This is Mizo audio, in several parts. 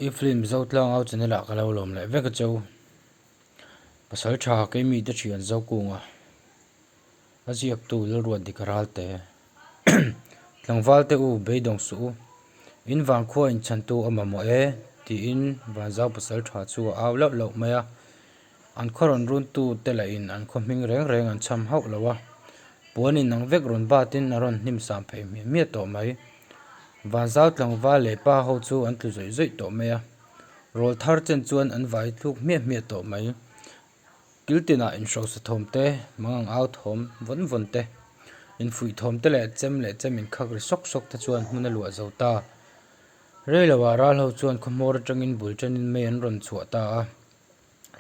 I film zotlang au china lah ka lo lawm leh vek a che u. Pasal tha kei mi te thian zo kung a a ziak tu lalruan dik a ral te tlangval te u beidawng suh u in van khua in chhan tu a mamawh e tiin vanzau pasal tha chu a au lauh lauh mai a An khaw rawn runtu te lah in an khaw hming reng reng an chham hauh lo a, puan in ang vek rawn bat in a rawn hnim sam phei hmiah hmiah tawh mai. Van zau tlangval leh pa ho chu an tlu zawih zawih tawh mai a, rawl thar chen chuan an vai thluk hmiah hmiah tawh mai. Kiltin ah in hrosa thawm te, mangang au thawm vawn vawn te, in fuih thawm te leh chem leh chem in khak ri sawk sawk te chuan hmun a luah zo ta. Rei lo ah ral ho chuan khaw hmawr atang in bul chen in mei an rawn chhuah ta a.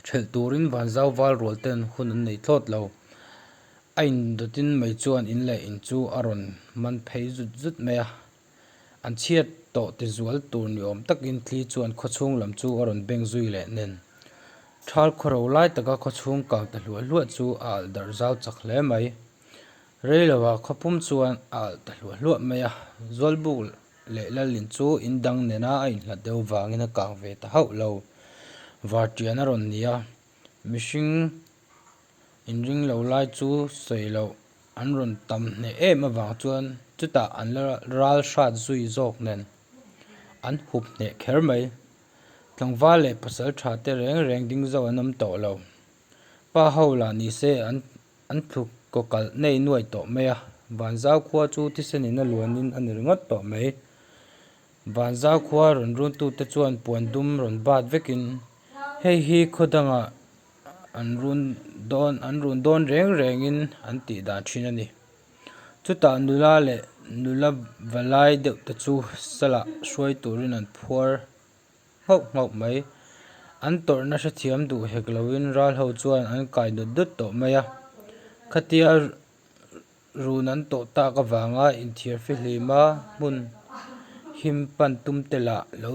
Ṭhelh turin van zau val rual ten hun an nei thlawt lo. A in dawtin mei chuan in leh in chu a rawn man phei zut zut mai a. An chhiat tawh tizual tur ni awm takin Tli chuan khawchhung lam chu a rawn beng zui leh nen. Ṭhal khaw ro lai taka khawchhung kang ta hluah hluah chu a alh darh zau chak hle mai. Rei lo a khaw pum chuan a alh ta hluah hluah mai a, zual buk leh lal in chu in dang nena a inhlat deuh vangin a kang ve ta hauh lo. Var tian a rawn ni a, mihring in ring lo lai chu sawi loh an rawn tam hneh em avang chuan chutah an la ral hrat zui zawk nen an hup hneh kher mai. Tlangval leh pasalṭha te reng reng ding zauh an awm tawh lo. Pa ho lah nise an an thluk kaw kalh nei nuai tawh mai a, Vanzau khua chu thisenin a luanin a ni ringawt tawh mai. Vanzau khua rawn runtute chuan puan dum rawn bat vekin, Hei hi khaw danga an run dawn an run dawn reng rengin an tih dan thin a ni. Chutah nula leh nula va lai deuh te chu salah hruai turin an phuar. nghauh nghauh mai. An tawrhna hrethiam duh hek loin ral ho chuan an kai dut dut tawh mai a. Khatia run an tawh tak avanga inthiar fihlima hmun him pan tum te lah lo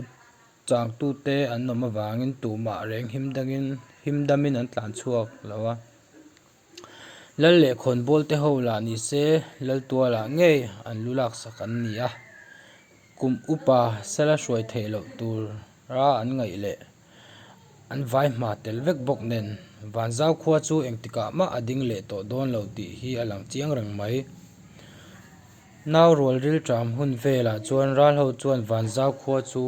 changtu te an awm avangin tumah reng him dangin him damin an tlan chhuak lo a. Lal leh khawnbawlte ho lah ni se, Laltualah ngei an lu laksak an ni a, kum upa sela hruai theih loh tura an ngaih leh an vai hma tel vek bawk nen, Vanzau khua chu engtikah mah a ding leh tawh dawn lo tih hi a lang chiang reng mai. Nau rual rilṭam hun velah chuan Ralho chuan Vanzau khua chu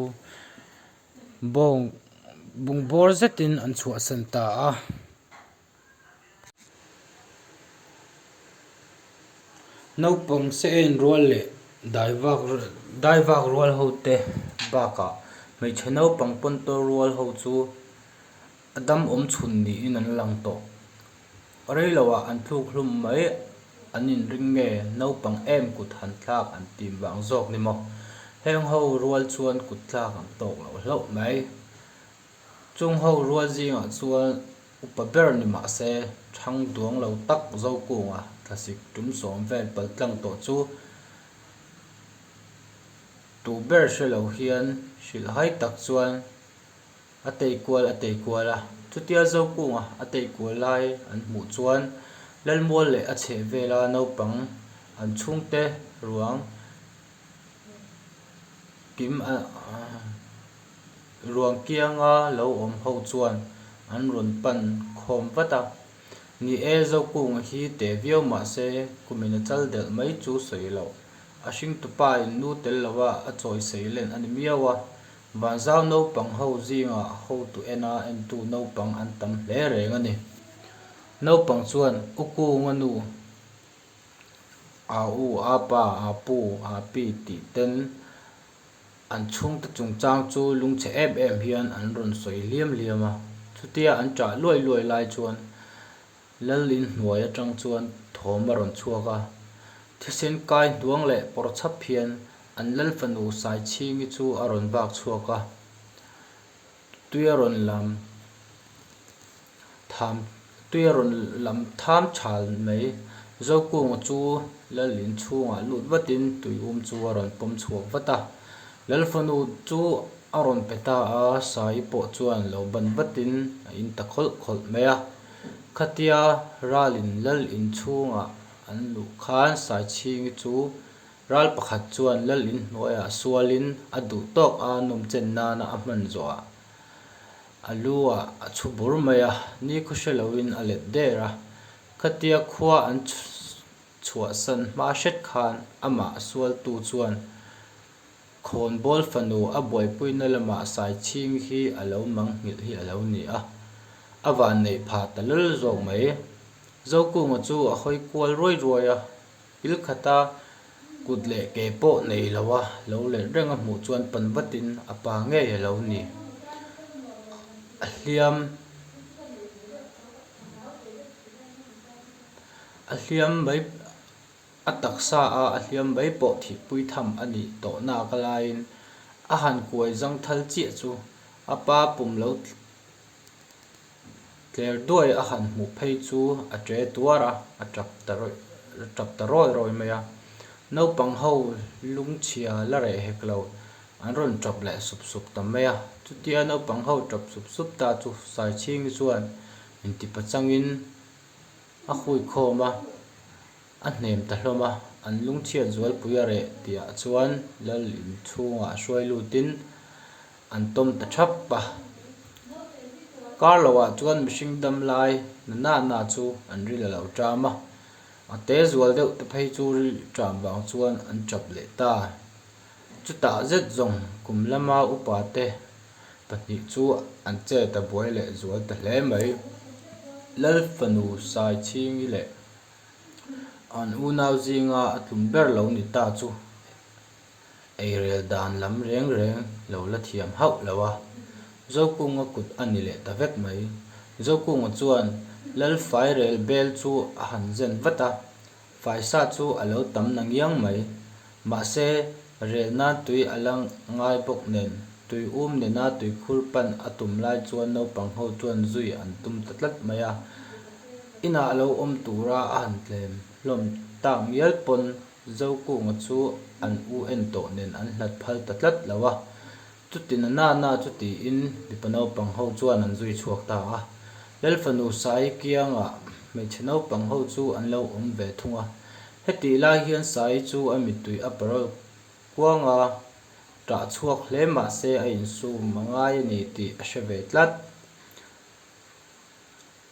bawng bungbawr zetin an chhuahsan ta a. Naupang se'n rual leh daivak daivak rual ho te bakah hmeichhe naupang pawntawi rual ho chu a dam awm chhun niin an lang tawh. Rei lo ah an tluk hlum mai an inring nge naupang em kut han tlak an tih vang zawk ni maw? Heng ho rual chuan kut tlak an tawk loh hlauh mai. Chung ho rual zingah chuan upa ber ni mah se thang duang lo tak Zokunga thlasik tum sawm vel pal tlang tawh chu tuh ber hre lo hian hrilh hai tak chuan a tei kual a tei kual a. Chutia Zokunga a tei kual lai an hmuh chuan Lalmual leh a chheh vela naupang an chhungte ruang. Kim a ruang kianga lo awm ho chuan an rawn pan khawm vat a. Ni e, Zokung hi teh viau mah se kumin a chal delh mai chu sawi lo. A hring tupa in nu tel lo a, a chawi sei len a ni miau a. Vanzau naupang ho zingah hotu ena entu naupang an tam hle reng a ni. Naupang chuan U Kunga nu. Aa u, aa pa, aa pu, aa pi tih ten an chhungte chungchang chu lungchhe em em hian an rawn sawi hliam hliam a. Chutia an chah luai luai lai chuan Lal in hnuai atang chuan thawm a rawn chhuak a. Thisen kai hnuang leh pawr chap hian an Lal fanu Saichhingi chu a rawn bak chhuak a. Tuia rawn lam tham tuia rawn lam tham chhal mai Zokung chu Lal in chhungah lut vatin tui um chu a rawn pawm chhuak vat a, Lal fanu chu a rawn pe ta a, Sai pawh chuan lo ban vatin a in ta khawlh khawlh mai a, khatia Ralin Lal in chhungah an luh khan Saichhingi chu Ral pakhat chuan Lal in hnuaiah sual in a duh tawk a nawm chen nana a hman zawh a, a lu a a chhu bur mai a, ni khaw hre lo in a let der a, khatia khua an chhuah san hma hret khan amah a sual tu chuan khawn bawl fanu a buaipui na lamah sai chhing hi a lo mang nghilh hi a lo ni a, a van neih pha ta lal zawk mai, Zokunga chu a hawi kual ruai ruai a. Thil khata kut leh ke pawh nei lo a lo let reng a hmuh chuan pan vatin a pa ngei a lo ni. A hliam a hliam mai a taksa a a hliam mai pawh thihpui tham a nih tawh naka laiin a han kuai zangthal chiah chu a pa pum lo. Tler duai a han hmuh phei chu a ṭe tuar a, a ṭap ta a ṭap ta rawi rawi mai a. Naupang ho lungchhia la reh hek lo an rawn ṭap leh sup sup ta mai a. Chutia naupang ho ṭap sup sup ta chu Saichhingi chuan intipachangin a huikhawm a. A hnem ta hlawm a, an lungchhiat zualpui a reh tihah chuan Lal in chhungah hruai lutin an tawm ta thap a. Kar lo ah chuan mihring dam lai nana na chu an ril a lo ṭam a, a te zual deuh te phei chu ril ṭam vang chuan an ṭap leh ta. Chutah zet zawng kum lama upa te pahnih chu an che ta buai leh zual ta hle mai. Lal fanu Saichhingi leh. An unau zinga a tlum ber lo ni ta chu eirel dan lam reng reng lo la thiam hauh lo a, Zokunga kut a ni leh ta vek mai. Zokunga chuan Lalfai rel bel chu a han zen vat a, Faisa chu a lo tam na ngiang mai. Mahse, rel nan tui a la ngai bawk nen, tui um nena tui khur pan a tum lai chuan naupang ho chuan zui an tum ta tlat mai a. Inah a lo awm tura a han tlem hlawm tak mial pawn, Zokunga chu an u en tawh nen an hlat phal ta tlat lo a. Chutin a nana chu tiin mipa naupang ho chuan an zui chhuak ta a. Lalfanu Sai kianga hmeichhe naupang ho chu an lo awm ve thung a. Hetih lai hian Sai chu a mitui a paruk kuang a, ṭah chhuak hle mahse a insum a ngai a ni tih a hre ve tlat.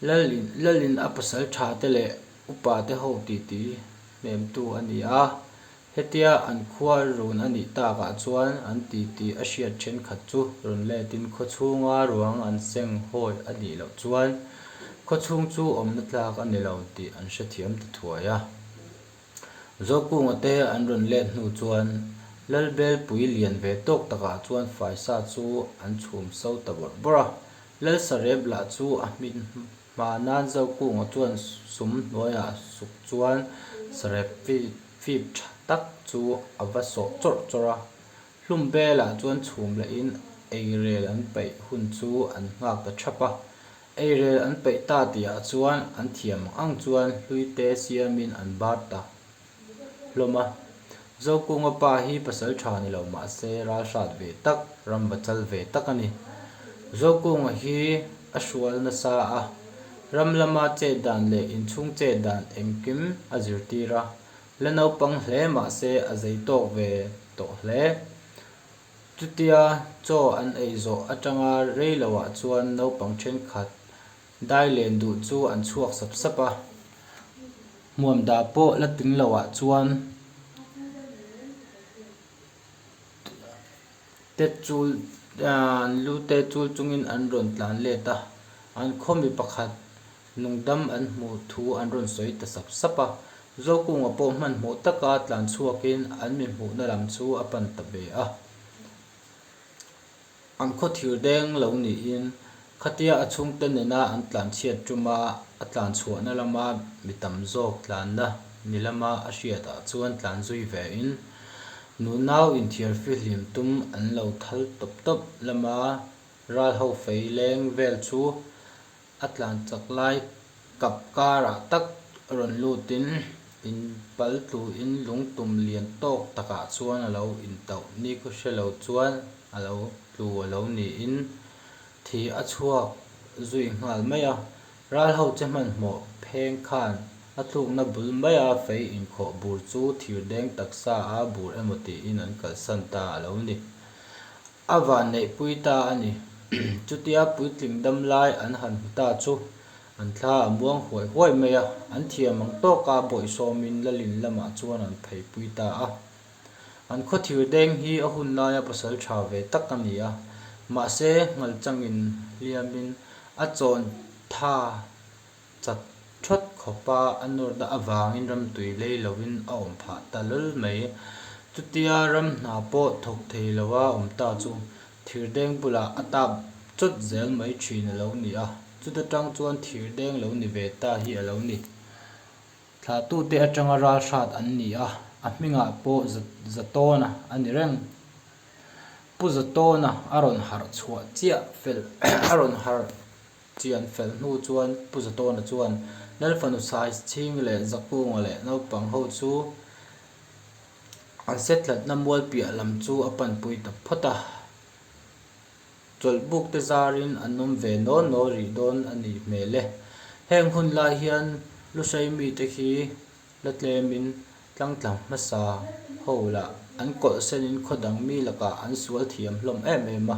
Lal in, Lal in a pasal tha te leh upa te ho titi hnemtu a ni a, hetia an khua run a nih tak ah chuan an titi a hriat thenkhat chu rawn let in khaw chhunga ruang an seng hawi a nih loh chuan khaw chhung chu awmna tlak a ni lo tih an hrethiam ta thuai a. Zawkkunga te an rawn let hnu chuan Lalbel pui lian ve tawk takah chuan Faisa chu an chhum so ta bawrh bawrh a. Lalsarep lah chu a hmin hma nan Zawkkunga chuan sum hnuaiah suk chuan sarep fip tha tak chu a va sawh chawrh chawrh a. Hlumbela chuan chhum lahin eirel an peih hun chu an nghak ta thap a. Eirel an peih ta tih ah chuan an thiam ang chuan hlui te siam in an bar ta hlawm a. Zokunga pa hi pasal tha ni lo mah se ral hrat ve tak, ram va chal ve tak a ni. Zokunga hi a hrual nasa a, ram lama chet dan leh inchhung chet dan engkim a zirtir a, la naupang hle mah se a zei tawk ve tawh hle. Chutia chaw an ei zawh atanga rei lo ah chuan naupang thenkhat dai len duh chu an chhuak sap sap a. Hmuam dah pawh la tling lo ah chuan te chul lu te chul chungin an rawn tlan let a. An khaw mi pakhat. Nungdam an hmuh thu an rawn sawi ta sap sap a, Zokunga pawh hmanhmawh taka tlan chhuakin an mihmuhna lam chu a pan ta ve a. An khaw thir deng lo niin khatia a chhungte nena an tlan chhiat tum a, a tlan chhuahna lama mi tam zawk tlanna ni lama a hriatah chuan tlan zui vein nunau inthiar fihlim tum an lo thal tawp tawp lama Ralho Fei leng vel chu A tlan chak lai kap karah tak rawn lutin in pal tluin lungtum lian tawk takah chuan a lo in tauh ni ka hre lo chuan a lo tlu a lo niin thi a chhuak zui nghal mai a. Ral ho che hmanhmawh pheng khan a tlukna bul maia fei inkhawh bur chu thirdeng taksa a bur emaw tiin an kalsan ta a lo ni. A vanneih pui ta a ni. Chutia puitling dam lai an han hmu ta chu an thla a muang huai huai mai a, an thiam ang tawk a bawihsawmin Lalin lamah chuan an phei pui ta a. An khaw thirdeng hi a hun laia pasal tha ve tak a ni a, mahse ngalchangin hliamin a chawn tha. Chak ṭhat khawpa a nawrna avangin ramtui lei loin a awm phah ta lal mai. Chutia ram hna pawh thawk thei loa awm ta chu thirdeng bulah a tap chawt zel mai ṭhin a lo ni a. Chuta ṭang chuan thirdeng lo ni ve ta hi a lo ni. Thlatute aṭanga ralhrat an ni a, a hmingah pawh za Zatawna a ni reng. Pu Zatawna a rawn harh chhuah chiah fel a rawn harh. Chi an felh hnu chuan Pu Zatawna chuan Lalfanu size chhing leh Zakunga leh naupang ho chu an set tlatna mualpiah lam chu a panpui ta phawt a, chawlhbuk te zarin an awm ve nawl nawl rih dawn a nih hmel e. Heng hun lai hian lu hrei mite khi la tlemin tlangtlang hmasa ho lah an kawlh senin khaw dang mi lakah an sual thiam hlawm em em a.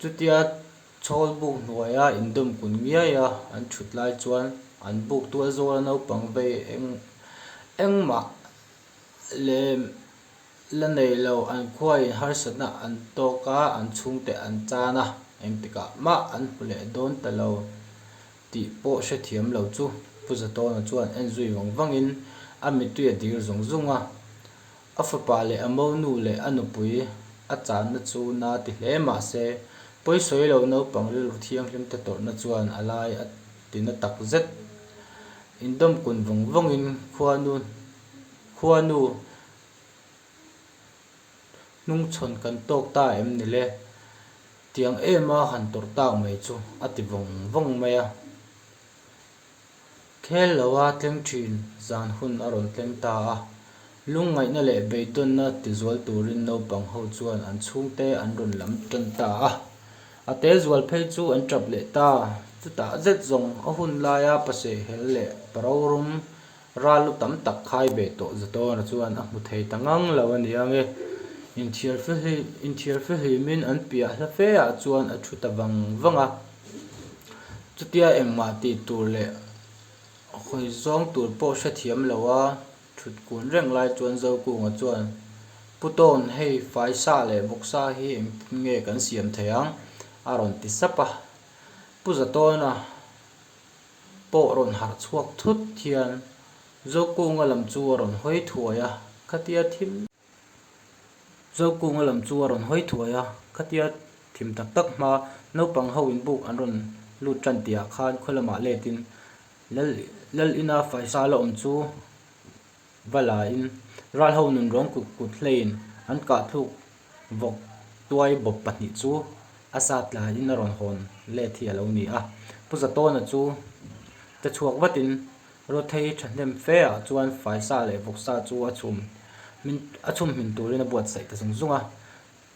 Chutia chhawl buk hnuaia indum kun ngiaia an chhut lai chuan an buk tual zawla naupang vei eng engmah lem la nei lo an khuain harsatna an tawk a, an chhungte an chan a, engtikah mah an hmu leh dawn ta lo tih pawh hrethiam lo chu. Pu Zatawna chuan en zui vang vangin a mitui a dir zawng zawng a, A fapa leh a monu leh a nupui a channa chu na ti hle mah se, pawisawi lo naupang rilru thianghlim te tawrhna chuan a lai a ti na tak zet. Indawm kun vawng vawngin khuanu khuanu hnungchhawn kan tawk ta em ni le, tiang em a han tawrh tak mai chu a ti vawng vawng mai a. Khel lo a tleng thin zan hun a rawn tleng ta a. Lungngaihna leh beihdawnna tizual turin naupang ho chuan an chhungte an rawn lam tawn ta a. A te zual phei chu an tap leh ta. Chutah zet zawng a hun laia pasehel leh parorum ral lu tam tak khai ve tawh za dawna chuan a hmu thei ta ngang lo a ni ang e. Inthiar fe hlim inthiar fe hlimin an piah hla fe ah chuan a thu ta vang vang a. Chutia engmah tih tur leh hawi zawng tur pawh hrethiam lo a, thut kun reng lai chuan Zokunga chuan, Pu Tawn, hei fai sa leh bawk sa hi engtin nge kan siam thei ang? a rawn ti sap a. Pu Zatawnna pawh rawn harh chhuak thut hian Zokunga lam chu a rawn hawi thuai a, khatia thim em. Zokunga lam chu a rawn hawi thuai a, khatia thim tak tak hma naupang ho in buk an rawn lut tan tih ah khan khaw lamah letin Lal Lal in a faisa la awm chu va la in ral ho nun rawng kut kut hlei in an kah thluk vawk tuai bawp pahnih chu a sa tla in a rawn hawn let hi a lo ni a, Pu Za Tawna chu te chhuak vat in. Ruathei hi thahnem fe ah chuan faisa leh vawksa chu a chhum hmin a chhum hmin turin a buatsaih ta zung zung a.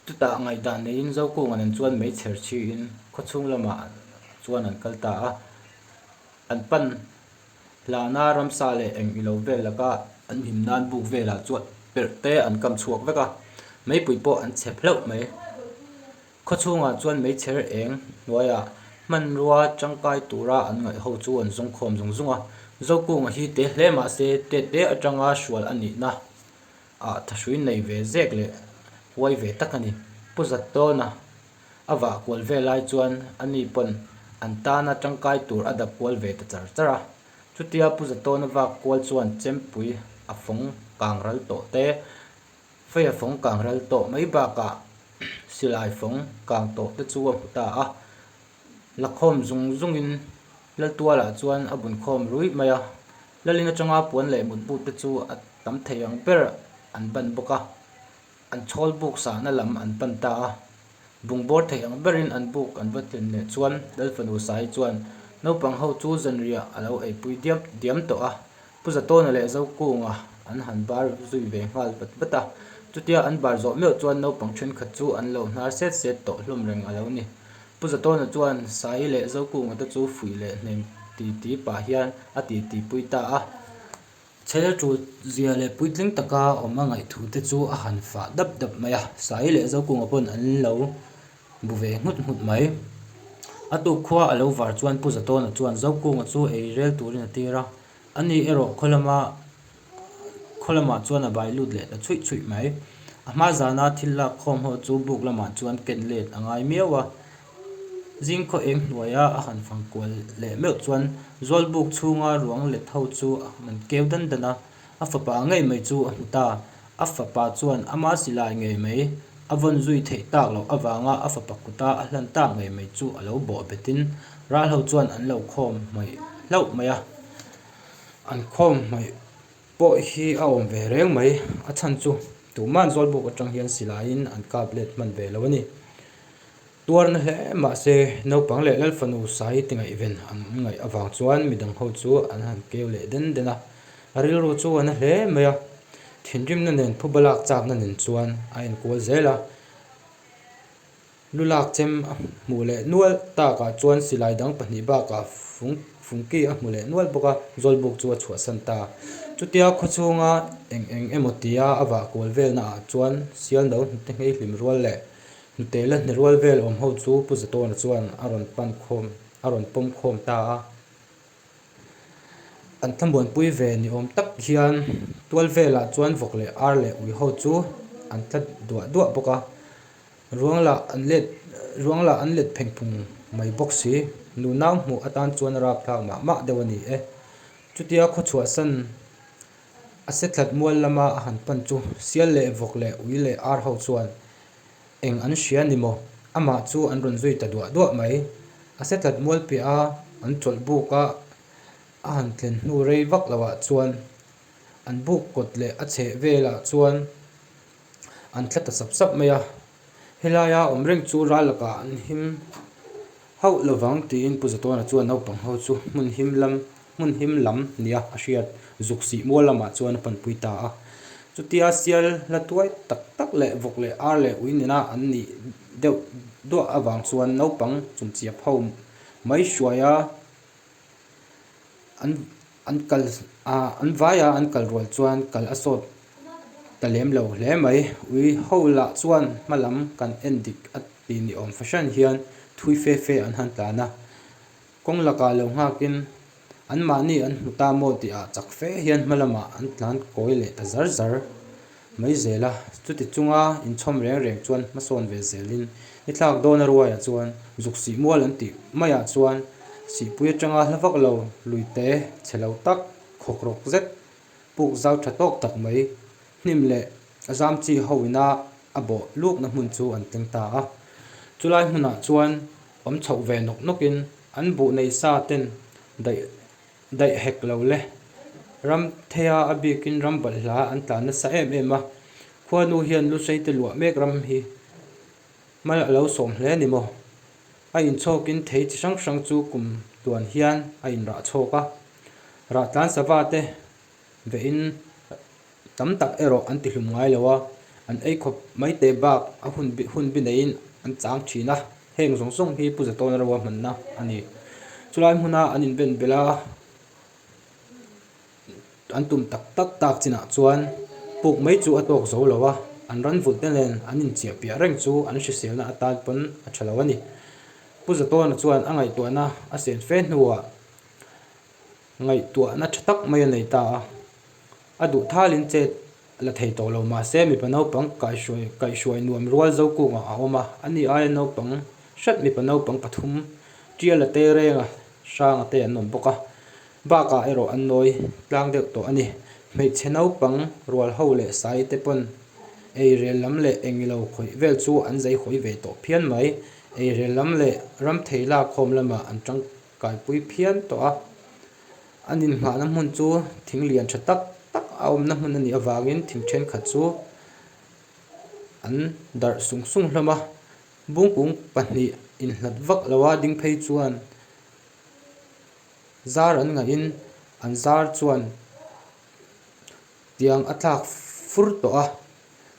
Chutah ngaihdan neiin Zokung an en chuan mei chher chiin khawchhung lamah chuan an kal ta a. An pan hlana ramsa leh eng ilo vel laka an him nan buk velah chuan perh te an kam chhuak vek a. Meipui pawh an chep hleuh mai. Khaw chhungah chuan meichher eng hnuaia hmanrua changkai tura an ngaih ho chu an zawng khawm zung zung a. Zokung hi te hle mahse te te atanga hrual a nihna ah thahrui nei ve zek leh huai ve tak a ni. Pu Zattawnna a vah kual vel lai chuan ani pawn an tana changkai tur a dap kual ve ta char char a. Chutia Pu Zattawnna vak kual chuan chempui a fawng kangral tawh te, Faia fawng kang ral tawh mai bakah silai fawng kang tawh te chu a hmu ta a, la khawm zung zungin Laltuala chuan a bun khawm ruih mai a, Lalin atanga puan leh mutbut te chu a tam thei ang ber an pan bawk a, an chhawlbuk sahna lam an pan ta a, Bung bawr thei ang berin an buk an va tlen leh chuan Lalfanu Sai chuan naupang ho chu zanriah a lo eipui diam diam tawh a, Pu Zatawna leh Zokunga an han bar zui ve nghal vat vat a, chutia an bar zawh meuh chuan naupang thenkhat chu an lo hnar set set tawh hlawm reng a lo ni. Pu Zatawna chuan Sai leh Zokunga te chu fuih leh hnem ti ti pah hian a titi pui ta a. Chhela ṭut zia leh puitling taka awm a ngaihthu te chu a han fah dap dap mai a, Saii leh Zokunga pawn an lo bu ve nghut nghut mai. A tuk khua a lo var chuan Pu Zatawna chuan Zokunga chu ei rel turin a tir a, a ni erawh khaw lama khaw lamah chuan a bai lut leh ta chhuih chhuih mai. A hma zana thil lakkhawm ho chu buk lamah chuan ken let a ngai miau a. Zing khaw eng hnuaia a han fang kual leh meuh chuan zualbuk chhunga ruang let ho chu a han keu dan dan a, a fapa ngei mai chu a hmu ta. A fapa chuan a masi lai ngei mai, a vawn zui theih tak loh avanga a fapa kuta a hlan tak ngei mai chu a lo bawh betin ral ho chuan an lo khawm hmawih hlauh mai a. An khawm hmawih pawh hi a awm ve reng mai, a chhan chu tumah zualbuk atang hian silaiin an kap let hman ve lo a ni. Tuarna hle mahse, naupang leh lalfanu sai tingaihven an ngaih avang chuan midang ho chu an han keu leh den den a, a rilru chu a na hle mai a, thinrimna nen phu balak chakna nen chuan a enkual zel a, lu lak chem a hmuh leh nual takah chuan silai dang pahnih bakah fung fungki a hmu leh nual bawk a, zawlbuk chu a chhuahsan ta a, chutia khawchhunga eng eng emaw tia a vah kual velnaah chuan sialno hnute ngheihlim rual leh Hnute la hnerual vel awm ho chu Pu Zatawna chuan a rawn pan khawm, a rawn pawm khawm ta a. An thlamuanpui ve ni awm tak hian tual velah chuan vawk leh ar leh ui ho chu an tla duah duah bawk a. Ruang lah an let, ruang lah an let pheng phung mai bawk si. Nunau hmuh atan chuan a rap thlak mah mah deuh a ni e. Chutia khaw chhuah san a se tlat mual lama a han pan chu sial leh vawk leh ui leh ar ho chuan Eng an hria ni maw? Amah chu an rawn zui ta duah duah mai. A se tlat mual piah a, an chawlh buk a a han thlen hnu rei vak lo ah chuan an buk kawt leh a chheh vel ah chuan an thla ta sap sap mai a. Helai a awm reng chu ral lakah an him. Hauh lovang tiin Pu Zatawna chuan naupang ho chu hmun him lam hmun him lam nia a hriat zuk sihmual lamah chuan a panpui ta a. Chutia sial hla tuai tak tak leh vawk leh ar leh ui nena an nih deuh duah avang chuan naupang chumchiap ho mai hruaia an An kal a, an vaia an kal rual chuan kal a sawt ta lem lo hle mai. Ui ho lah chuan hma lam kan en dik a tih ni awm fahran hian thui fe fe an han tlan a. Kawng laka lo nghakin, Anmahni an hmu ta maw tih a chak fe hian hma lamah an tlan kawi leh ta zar zar. Mai zel a, chuti chunga inchhawm reng reng chuan hmasawn ve zelin i thlak dawn a ruaiah chuan zuk sih mual an tih maiah chuan sihpui atanga hla vak lo lui te chhe lo tak khawk rawk zet puk zau tha tawk tak mai hnim leh a zam chi ho ina a bawh lukna hmun chu an tling ta a chulai hmunah chuan awm chhoh ve nawk nawk in an buh nei sa ten daih Daih hek lo le. Ramtheia a bikin ram balhla an tla nasa em em a. Khuanu hian lu seite luah mek ram hi mal a lo sawm hle ni maw? A inchhawkin thei chi hrang hrang chu kum tuan hian a inrah chhawk a. Rahtlan sava te. Vein tam tak erawh an tihlum ngai lo a, an ei khawp mai teh bak a hun bih hun bih neiin an chang thin a, heng zawng zawng hi Pu Zatawna ro a hmanna a ni. Chulai hmuna an inven belh a, an tum tak tak tak chinah chuan puk mai chu a tawk zo lo a, an ranvulhte nen an inchiahpiah reng chu an hriselna atan pawn a tha lo a ni. Pu Zatawna chuan a ngaihtuahna a siam fe hnuah Ngaihtuahna tha tak mai a nei ta a, a duhthalin che la thei tawh lo mahse mipa naupang kaihruai kaihruai nuam rual zo kungah a awm a, a ni aia naupang hret mipa naupang pathum tial a tei reng a, sang a tei an awm bawk a, bakah erawh an nawi tlang deuh tawh a ni. Hmeichhe naupang rual ho leh sai te pawn eirel lam leh engilo khawih vel chu an zai hawi ve tawh phian mai, eirel lam leh ramthei lakkhawm lamah an tang. Kalpui phian tawh a, an inhmahna hmun chu thing lian tha tak tak a awmna hmun a nih avangin thing thenkhat chu an darh sung sung hlawm a, bungkung pahnih inhlat vak lo a ding phei chuan zar an ngaihin an zar chuan. Tiang a tlak fur tawh a,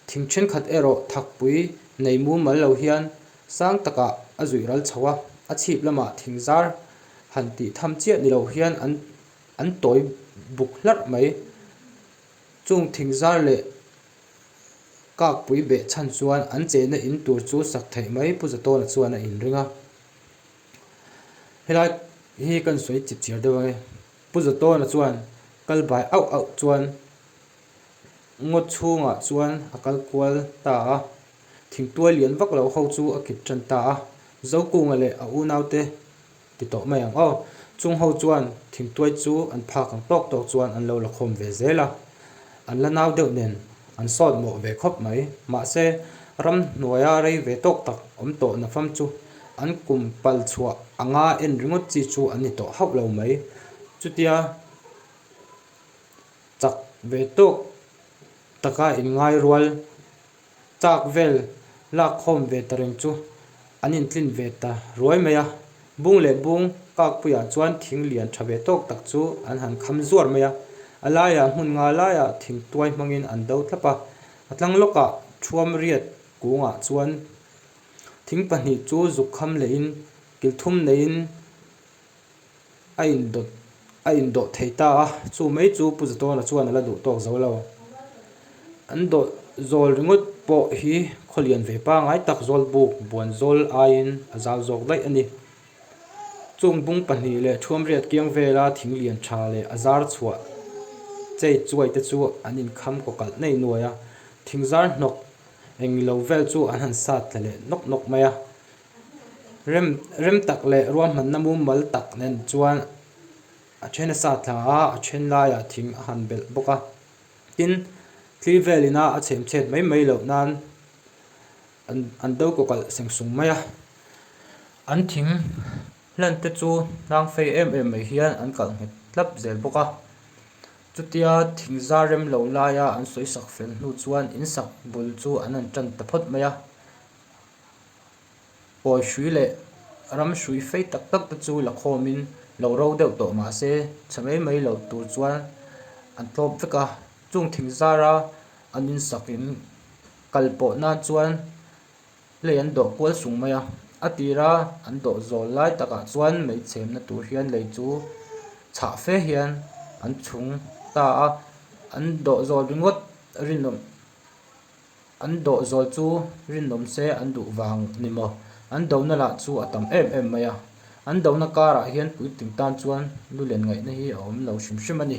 thing thenkhat erawh thakpui nei mumal lo hian sang takah a zuih ral chho a, a chhip lamah thing zar han tih tham chiah ni loh hian an an tawi buk hlarh mai. Chung thing zar leh kakpui beh chhan chuan an cheina in tur chu sak theih mai, Pu Zatawna chuan a inring a. Helai hi kan sawi chipchiar deuh ang e. Pu Zawtawna chuan kal bai auh auh chuan ngaw chhungah chuan a kal kual ta a, thingtuai lian vak loh ho chu a kip ṭan ta a, Zokunga leh a unaute ti tawh mai ang aw, chung ho chuan thingtuai chu an phak ang tawk tawk chuan an lo la khawm ve zel a. An la nau deuh nen an sawt mawh ve khawp mai. Mahse, ram hnuaia rei ve tawk tak awm tawh na fam chu an kum pal chhuah anga en ringawt chi chu an ni tawh hauh lo mai. Chutia chak ve tawk taka in ngai rual. Chak vel lak khawm ve ta reng chu an intlin ve ta ruai mai a, bung leh bung kakpuiah chuan thing lian tha ve tawk tak chu an han kham zuar mai a, a laiah hmun nga laiah thing tuai hmangin an do tlap a, a tlang lawkah thuam riat kungah chuan thing pahnih chu zuk kham lehin kilthum neihin a in dawt a in dawt thei ta a, chu mai chu Pu Zatawna chuan a la duh tawk zo lo. An dawt zawl ringawt pawh hi khaw lian ve pangai tak zawlbuk buan zawl aiin a zau zawk daih a ni. Chung bung pahnih leh thuamriat kiang vela thing lian tha leh a zar chhuah chei chuai te chu an in kham kaw kalh nei nuai a, thing zar hnawk eng lo vel chu an han sat tla leh nawk nawk mai a. Rem rem tak leh ruahmanna mumal tak nen chuan a then a sa thla a, a then laiah thing a han belh bawk a. Tin, thli vel ina a chhemchhet mai mai loh nan an an do kawkalh seng sung mai a. An thing hlan te chu hlang fei em em mai hian an kalh nghet hlap zel bawk a. Chutia thing zar rem lo laia an sawisak fel hnu chuan in sak bul chu an han tan ta phawt mai a. Pawi hrui leh ram hrui fei tak tak te chu lakhawmin lo ro deuh tawh mahse chhe mai mai lo tur chuan an tlawp vek a, chung thing zara an insakin kal pawh nan chuan lei an dawh kual sung mai a, a tira an dawh zawl lai takah chuan mei chhemna tur hian lei chu chhah fe hian an chhung ta a, an dawh zawl ringawt rinawm An doh zawl chu rinawm se an duh vang ni maw? An dona lah chu a tam em em mai a. An dona karah hian puitling tan chuan lu len ngaihna hi a awm lo hrim hrim a ni.